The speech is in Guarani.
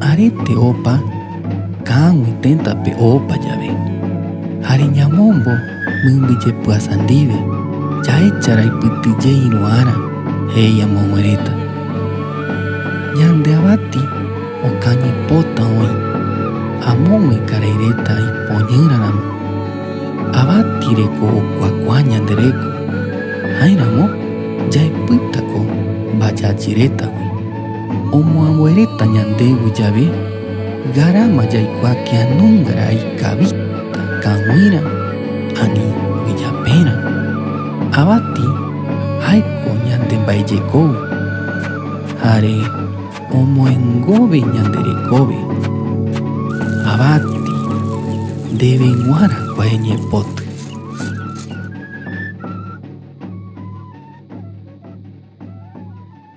Aréte opa ka'aguy tentape opa jave, ha reñamombo mymby jepyasa ndive, jaecha raipytyje iru'ára, he'i amogueréta. Ñande avati okañy pota oĩ, amogui karai reta ipoñýra ramo. Avati reko okuakua ñande reko, jaeramo jaepyta ko mbajajy retagui. Omoambueréta ñandégui jave, garama jaikua kianungarã ikavíta kag̃uirã ani oijapérã. Avati jaiko ñande mba'ejekógui, jare omoengógui ñande rekópe. Avati, ndéve g̃uarã kue ñepoty.